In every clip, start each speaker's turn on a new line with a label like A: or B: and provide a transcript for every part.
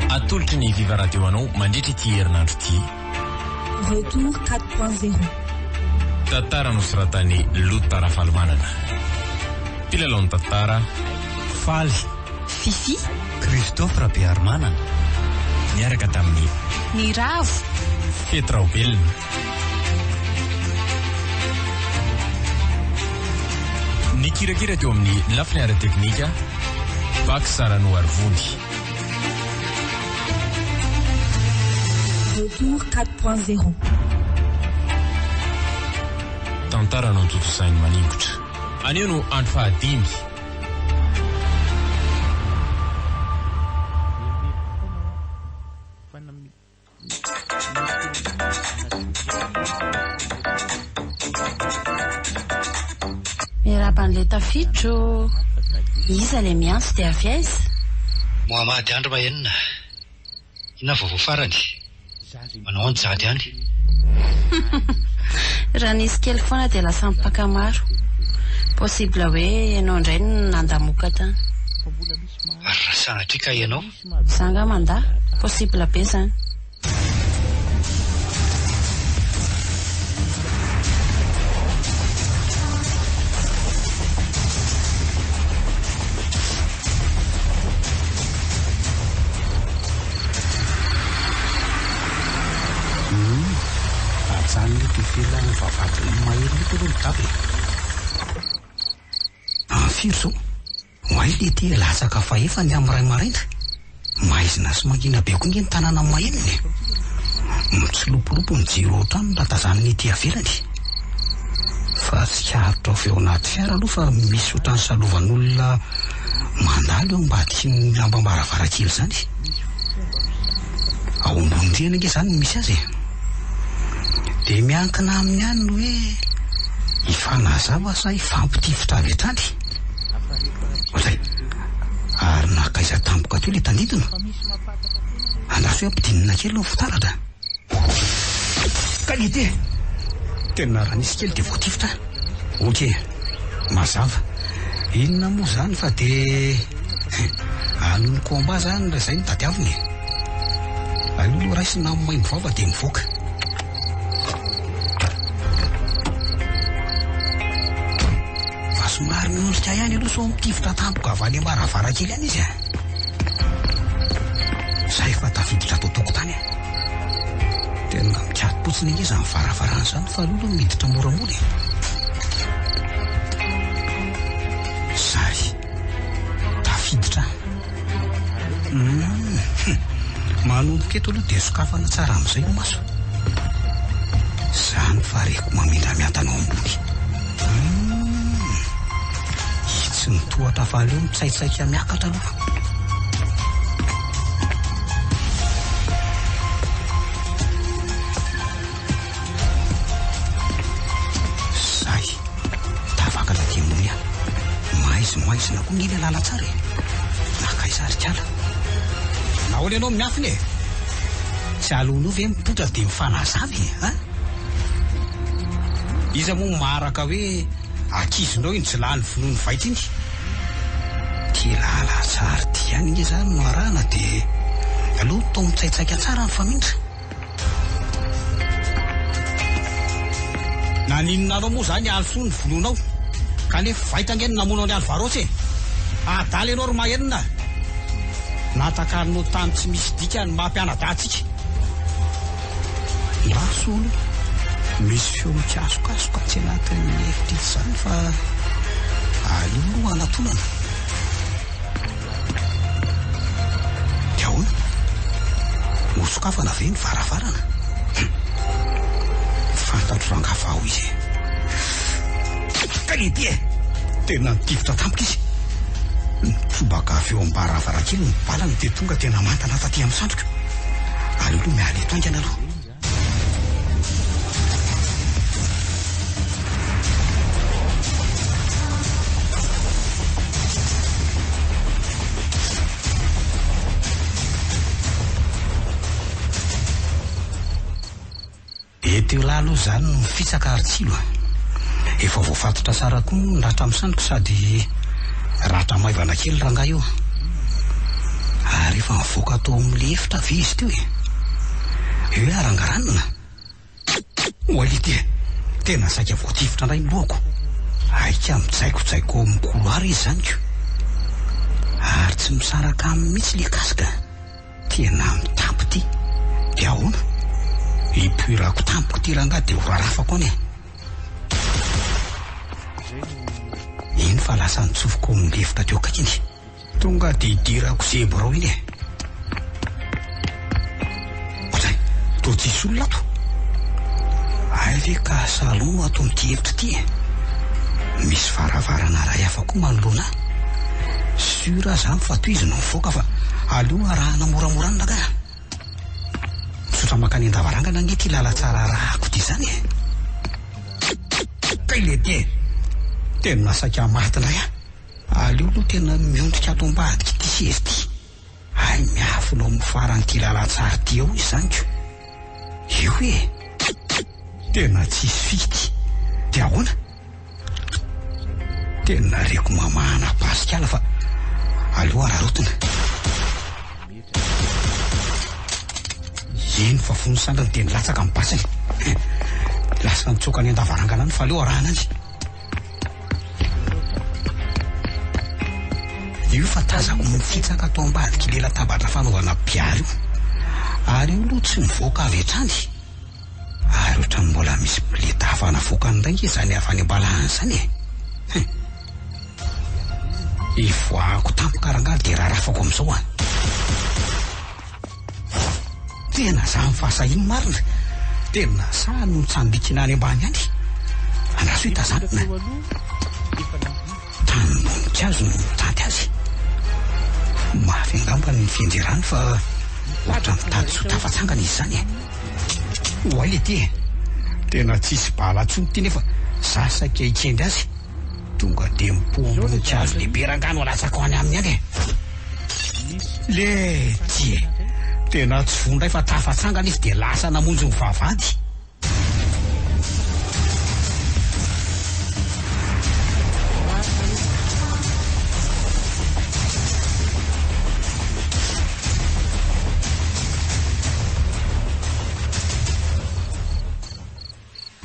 A: Atolotry ny Viva Radio anao mandritra ity herinandro ity.
B: Retour quatre point zero.
A: Tantara nosoratan'i Lota Rafalimanana. Mpilalaon'ny tantara, Faly. Fifi.
C: Christophe
D: Rabearimanana. Niaraka
A: tamin'i. Ny Ravo.
C: Fety
A: Raobelina. Nikirakira teo amin'ny lafiny ara-teknika, Pax Saranoarivony.
B: Retour 4.0.
A: Tantara notontosain'i Maningotra. Anio no andro fahadimy.
C: Miarahaba an'ilay tafiditra ô! Iza ilay miantso dia avy aiza? Mohamady
D: Andry Mahenina, inona vaovao farany? Manao an jady any.
C: Raha nisy kely foana dia lasa mpaka maro. Possible hoe ianao indray no nandamoka tany.
D: Ary raha sanatria ka ianao Za nga mandà,
C: possible be
E: zany. Mailo ity e, latsaka fahefa ny amin'ny ray maraina. Maizina sy mangina be koa ange ny tanàna mahenina e. Mitsilopilopy ny jiro ao an-trano raha tazanina ety ivelany. Fa tsikaritra avy ao anaty fiara aloha fa misy ohatran'ny salovan'olona mandalo eo ambadikin'ny lambam-baravarankely izany. Ao ambony rihana ange izany no misy azy e. Dia miankina aminy ihany ny hoe hifanazava sa hifampitifitra avy hatrany. Ozay, ary nankaiza tampoka teo ilay tandintona? Andraso hoe ampidinina kely aloha ny fitaratra. Qualité! Tena raha nisy kely dia voatifitra an! Ok, mazava. Inona moa izany fa dia anon'ny combat izany raha izay no tadiavina e! Aleo aloha raisina amin'ny maimbo vava dia mivoaka. Fa somary miondrika ihany aloha sao mitifitra tampoka avy any am-baravarankely any izy a. Za efa tafiditra ato an-tokotany a. Tena mikati-potsiny anie izany varavarana izany fa aleo aloha miditra moramora e. Zary. Tafiditra any. Hum. Manomboka eto aloha dia sokafana tsara amin'izay ny maso. Izany fa reko mamindra miantana ao ambony. Hum. Itsy ny tohatra fa aleo mitsaitsaika miakatra aloha. Zay, tavaka na dia moa ihany. Maizimaizina koa nge le lalantsara e. Nakaiza ary kala? Nahoana ianao miafina e? Tsy aleonao ve mipoitra dia mifanazava e? Ha? Iza moa maraka hoe ankizinao iny tsy lany vonoa ny vaika iny? Ity lalantsara ity ihany nge izany no arahana dia aleo tao mitsaitsaika tsara ny famindra. Naninona anao moa zany Alisoa no vonoinao? Kanefa vaitra ange ny namono an'i Alvaros e! Adala ianao ry Mahenina a! Natakarinao tany tsy misy dikany ny maha mpianadahy antsika. Maso aloha, misy feo mikasokasoka atsy anatin'ny efitr'itsy izany fa aleo aloha hanatonana. Dia ahoana? Nosokafana ve ny varavarana? Hum. Fantatro rangahy fa ao izy e. Kality e! Tena nitifitra tampoka izy. Nitsobaka avy eo am-baravarankely ny balany dia tonga tena mantana taty amin'ny sandriko. Aleo aloha miala eto haingana aloha. Etiolahy aloha izany no mifitsaka ary tsilo a. Efa voafatotra tsara koa moa ny ratra amin'ny sandriko sady ratra maivana kely rangahy io. Ary efa nivoaka tao amin'ny efitra ve izy teo e? Io hoe arangaranina? Walid e! Tena saika voatifitra indray ny lohako. Aika mijaikojaiko ao amin'ny couloir izy izany ko. Ary tsy misaraka aminy mihitsy ilay casque. Tena mitapy ity. Dia ahoana? Hipoirako tampoka ity rangahy dia horarafako any e! Eny fa lasa nitsofoka ao amin'ny lefitra teo akaikiny. Tonga dia idirako sy Hebrao iny e. Ohatran'ny toa tsisy olona ato. Hay ve ka salon ato amin'ity efitra ity e. Misy varavarana iray hafa koa manoloana ahy. Sûr aza amiko fa tohizo no mivoaka fa aleo arahana moramora any rangahy a. Misaotra mankany an-davarangana anie ity lalantsara arahako ity izany e. Kikikikikk kay lehibe e. Tena saika maty indray aho. Aleo aloha tena miondrika ato ambadika ity seza ity. Hay miafina ao amin'ny faran'ity lalantsary ity ao izany ko. Io e! Tena tsisy fika ity. Dia ahoana? Tena reko mamahana pasik'ala fa aleo araraotina. Eny fa fony sandriny dia nilatsaka ny basiny. Lasa nitsoaka any an-davarangana any fa aleo arahana any. Io fa tazako mifitsaka ato ambadik'ilay latabatra fanaovana biara io. Ary io aloha tsy mivoaka avy hatrany. Ary ohatran'ny mbola misy bileta hafa navoakany indray nge izany avy any am-palahany izany e. Hein. Ivoahako tampoka rangaha dia rarafako amin'izao an. Tena zany fa aza ino marina tena sa ny mitsambikina any ambany any andraso itazanina tany boninkazo no mitady azy mafy angamba ny fianjerany fa ohatra mitady tsy ho tafatsangana izy zany oay le ty e tena tsisy bala tsony ty nefa za saika ikendry azy Tonga dia mipoamontsa hazo lehibe rangahy no alatsako any aminy any e! Lety e! Tena tsy voa indray fa tafatsangana izy dia lasa namonjy ny vavahady.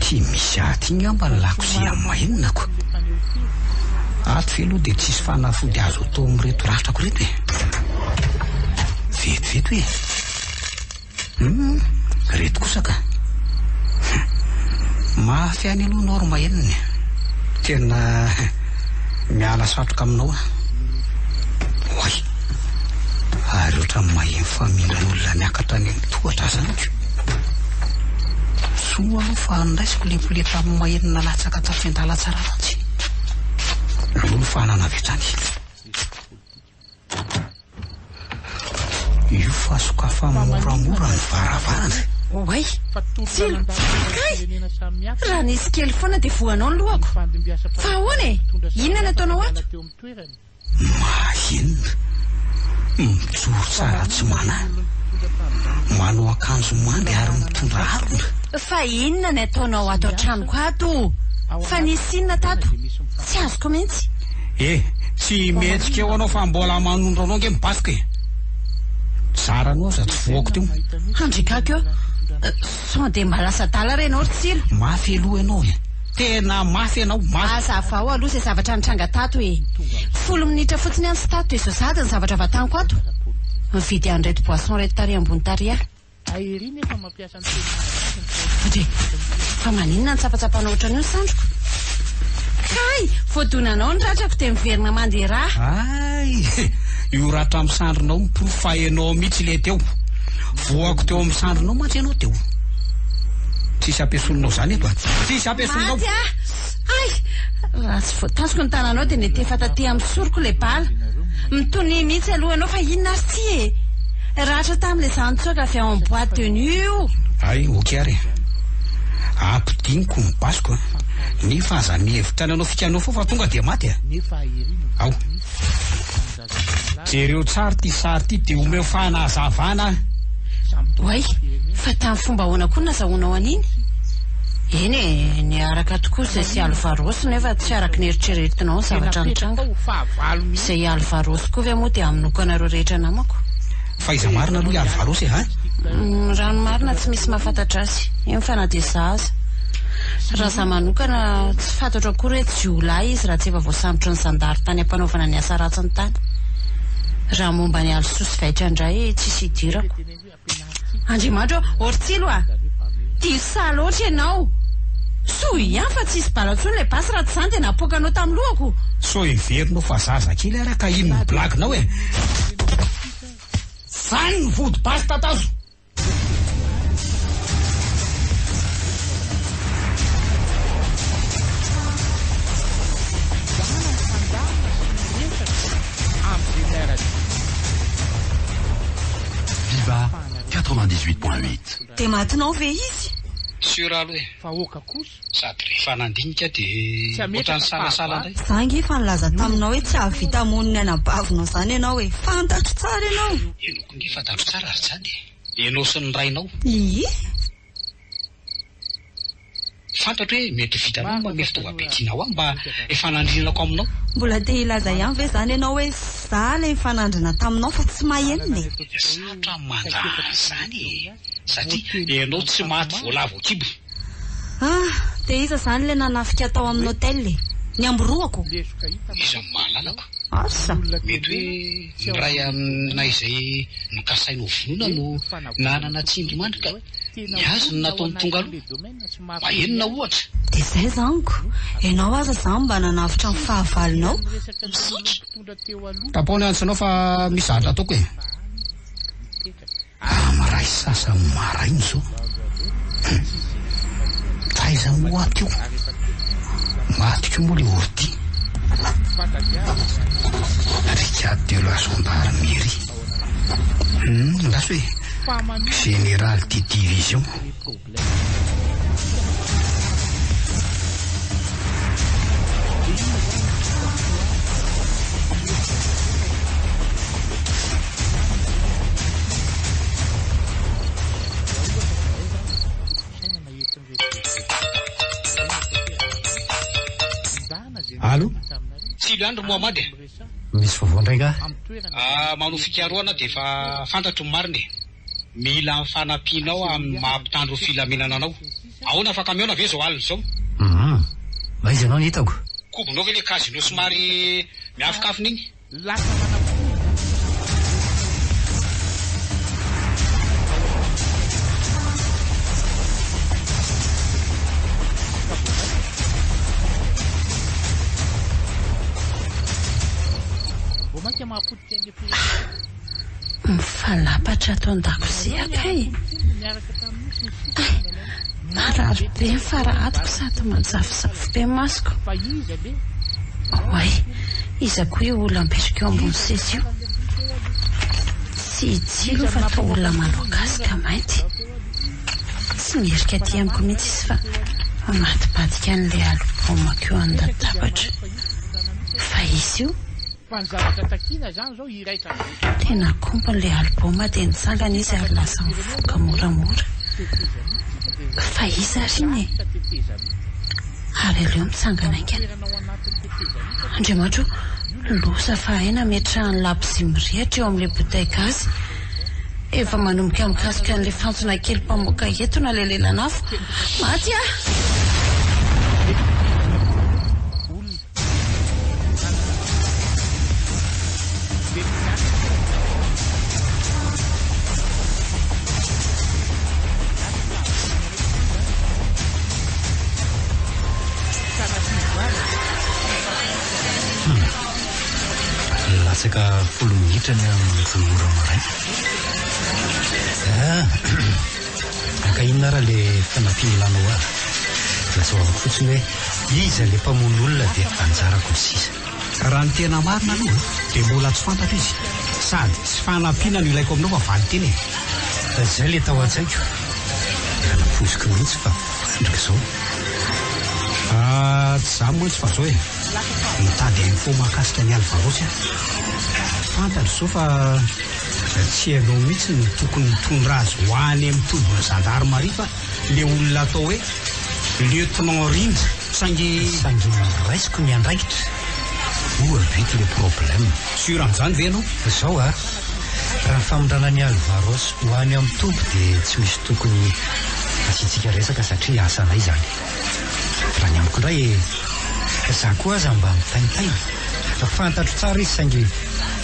E: Tsy misy aty ngamba ny lako sy hamainako. Ato ve aloha dia tsisy fanafody azo atao amin'ireto ratrako ireto e? Vetivety hoe, Humm, ireto kosa ka. Humm, mafy ihany aloha ianao ry Mahenina e. Tena miala satroka aminao aho. Oay, ary ohatran'ny maheno fa mino olona miakatra any amin'ny tohatra aza amiko. Zo aloha fa andraisiko ilay poleta amin'ny mahery nalatsaka tato Fiandalan-tsaramantsy. Aloha ny fahanana avy hatrany. Io fa sokafana moramora ny varavarana. Oay!
C: Tsilo! Kay! Raha nisy kely foana dia voanao ny lohako. Fa ahoana e? Inona no ataonao ato? Mahahenona.
E: Mijoro tsara tsy manahy. Manao akanjo mande ary mitondra harona. Fa inona
C: ny ataonao ato an-tranoko ato o? Fa nisy inona tato? Tsy azoko mihitsy. Eh, tsy
E: mihetsika eo anao fa mbola manondro anao ange mibafoka e! Zaranao aza tsy voako teo. Handrikako eo.
C: Sao dia mba lasa adala ary ianao ry Tsilo? Mafy aloha ianao e!
E: Tena mafy ianao, mafy! Hazavao aloha izay
C: zavatra nitranga tato e! Folo minitra fotsiny ihany tsy tato dia izao sahady ny zavatra vantaniko ato! Mividy an'ireto boisson ireto tary ambony tary aho! Dre! Fa maninona no tsapatsapanao ohatran'io ny sandriko? Kay! Vao donanao ny ratrako dia miverina manderaha! Hay!
E: Io ratram-sandrinao miporofo fa ianao mihitsy ilay teo! Voako teo amin'ny sandrinao mantsy ianao teo. Tsisy ampiesononao izany eto a. Tsisy ampiesononao. Maty ah! Ay!
C: Raha tsy voatasiko ny tananao dia nety efa taty amin'ny soroko ilay bala. Mitonia mihitsy aloha ianao fa inona ary tsy e! Ratra tamin'ilay zana-tsoaka avy ao amin'ny boîte de nuit io. Ay, ok ary.
E: Ampidiniko ny basiko a. Nefa aza mihevitra ny hanao fikanao foa fa tonga dia maty a. Ao. Jereo tsara ity sary ity dia omeo fanazavana.
C: Oay, fa tamin'ny fomba ahoana koa no nazahoanao an'iny? Eny e, niaraka tokoa izay sy Alvaros nefa tsy araka ny eritreretinao ny zavatra nitranga. Izay Alvaros koa ve moa dia hamonoako anareo rehetra namako? Faiza
E: marina aloha i Ary Varos e ha? Raha ny
C: marina tsy misy mahafantatra azy eny fa na dia za aza. Raha za manokana tsy fantatro akory hoe jiolahy izy raha tsy efa voasambotry ny zandary tany ampanaovana ny asa ratsiny tany. Raha momba an'i Alisoa sy Vaitra indray tsisy idirako. Andriamanitra ô! Ortsilo a! Diso saha loatra ianao! Soa ihany fa tsy hisy bala intsony ilay basy raha tsy izany dia napoakanao tamin'ny lohako! Sao heverinao
E: fa zaza kely ary aho ka iny ny blague-nao e! Zany ny vody basy tatazo.
F: Viva 98.8 Dia matinao
B: ve izy? Sur
D: aloha e. Sady rehefa nandinika dia ohatrany nisalasala indray. Za ange efa nilaza
B: taminao hoe tsy hahavita hamono ny anabavinao izany ianao e! Fantatro tsara ianao! Ianao koa ange fantatro
D: tsara ary izany e! Ianao sy ny rainao! Iiih! Fantatro hoe mety ho vitanao ny manome fitaovam-be tianao ahy mba hifanandrinako aminao. Mbola te hilaza
B: ihany ve izany ianao hoe za ilay nifanandrina taminao fa tsy mahenina e! Sarotra ny mandraha
D: an'izany e! satria ianao tsy maty voalavo an-kibo. Ah!
B: dia iza izany ilay nanafika tao amin'ny hotel e? Ny amboroako? Iza no
D: mahalalako? Asa?
B: Mety hoe
D: ny iray aminay izay nokasainy ho vonoina no nanana tsindrimandry ka ny azy no nataony tonga aloha. Mahenina ohatra. Dia izay izany ko!
B: Ianao aza izany mba nanavotra ny fahavalonao. Misaotra!
E: Tapaho ny antsinao fa misy zavatra ataoko e! Am iray sasany maraina izao. Hum. Taiza moa ato io? Maty koa moa le ordi. Brigade de la gendarmerie. Hum, andraso e. Général de division. Allo, Tsilo ihany
D: ry Mohamady a! Misy vaovao
E: indray angaha? Ah, manao
D: fikarohana aho dia efa fantatro ny marina e! Mila ny fanampianao amin'ny maha mpitandro ny filaminana anao. Ahoana afaka mihaona ve izao alina izao? Humm.
E: Aiza ianao no hitako? Kobonao ve ilay casino
D: somary miafinkafina iny? Lasa manamponina ny filaminana.
C: Hah! Mifanapatra ato an-dakozia kay! Hah! Marary be ny fara atiko sady manjavozavo be ny masoko. Oay! Iza koa io olona mipetraka eo ambony seza io? Tsy i Tsilo fa toa olona manao gasy ka mainty. Tsy mierika aty amiko mihitsy izy fa mamadibadika an'ilay album-ko eo an-databatra. Fa izy io? Fa ny zavatra takiana izany izao hiraika andro eo. Dia nakompony ilay album dia nitsangana izy ary lasa mivoaka moramora. Fa iza ary iny e? Ary aleo mitsangana haingana. Andriamanitro o, loza fa hay nametrahany labozia mirehitra eo amin'ilay bouteille gasy. Efa manomboka mikasoka an'ilay fantsona kely mpamoaka etona ilay lelan'afo. Maty aho!
E: Latsaka folo minitra ny amin'ny folo ora maraina. Ka inona ary le fanampiana ilanao ahy? Lazao fotsiny hoe iza le mpamono olona dia anjarako ny sisa. Raha ny tena marina aloha dia mbola tsy fantatro izy sady tsy fanampiana no ilaiko aminao fa valin-tena e! Fa zay le tao an-tsaiko ka nampoiziko mihitsy fa fandraka zao fa tsy za mantsy fa zao e! Mitady info mahakasika an'i Alvaros aho. Fantatro zao fa. Fa tsy ianao mihitsy no tokony hitondra azy ho any amin'ny tobin'ny zandarimaria fa le olona atao hoe Lieutenant Rindra saingy saingy raisiko ny andraikitra oa vita le problème. Sûr amin'izany ve ianao? Zao a, raha
G: famindrana an'i Alvaros ho any amin'ny toby dia tsy misy tokony hasiantsika resaka satria asanay izany. Raha ny amiko indray e, za koa aza mba mitaintaina fa fantatro tsara izy saingy.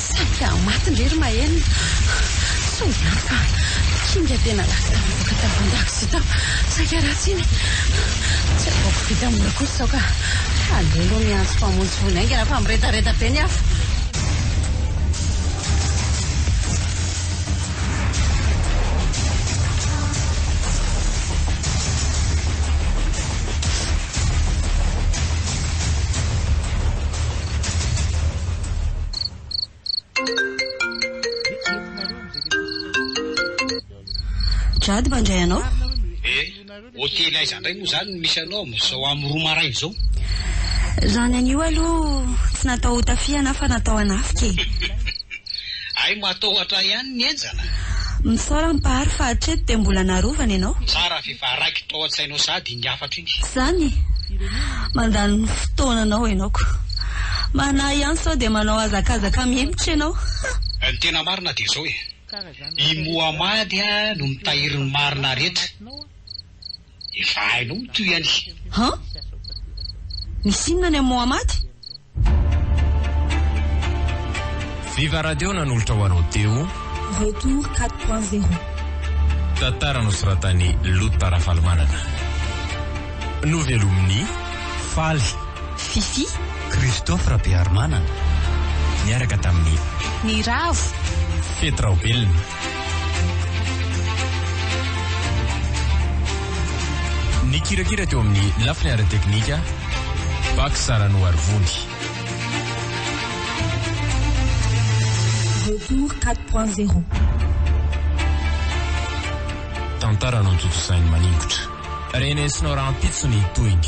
C: Samy te hahamatiny re ry Maëlle. Sao ihany fa kinga tena lasa tafavoaka tao an-dakozia tao. Saika ratsy iny. Tsy ataoko vita mora kosa izao ka aleo aloha miantso mpamonjy voina haingana fa miredareda be ny afo.
B: Jady mba ndray anao. Eh,
D: hotely aiza ndray moa zany no misy anao amin'izao amin'ny roa maraina izao? Raha
B: ny an'io aloha tsy natao ho tafihana aho fa natao hanafika e.
D: Hay matahotra ahy ihany ny henjana. Misaora
B: mpahary fa hatreto dia mbola narovana ianao. Tsara ve fa raikitra
D: ao an-tsainao sady. iny hafatra iny. Zany?
B: Mandany fotoana anao ianao ko. Manahy ihany sao dia manao hazakazaka mihemotra ianao. Ha! Ny tena
D: marina dia izao e. I Mohamady no mitahiry ny marina rehetra. Efa hainao mitohy anie. Han?
B: Misy inona ny an'i Mohamady?
A: Viva Radio nanolotra ho anao teo. Retour 4.0.
H: Tantara
A: nosoratan'i Lota Rafalimanana. Novelomin'i Faly. Fifi.
B: Christophe
G: Rabearimanana. Niaraka
A: tamin'i. Ny Ravo.
C: Fety Raobelina.
A: Nikirakira teo amin'ny lafiny ara-teknika Pax Saranoarivony. Retour
H: 4.0.
A: Tantara notontosain'i Maningotra. Renesinao rahampitso ny tohiny.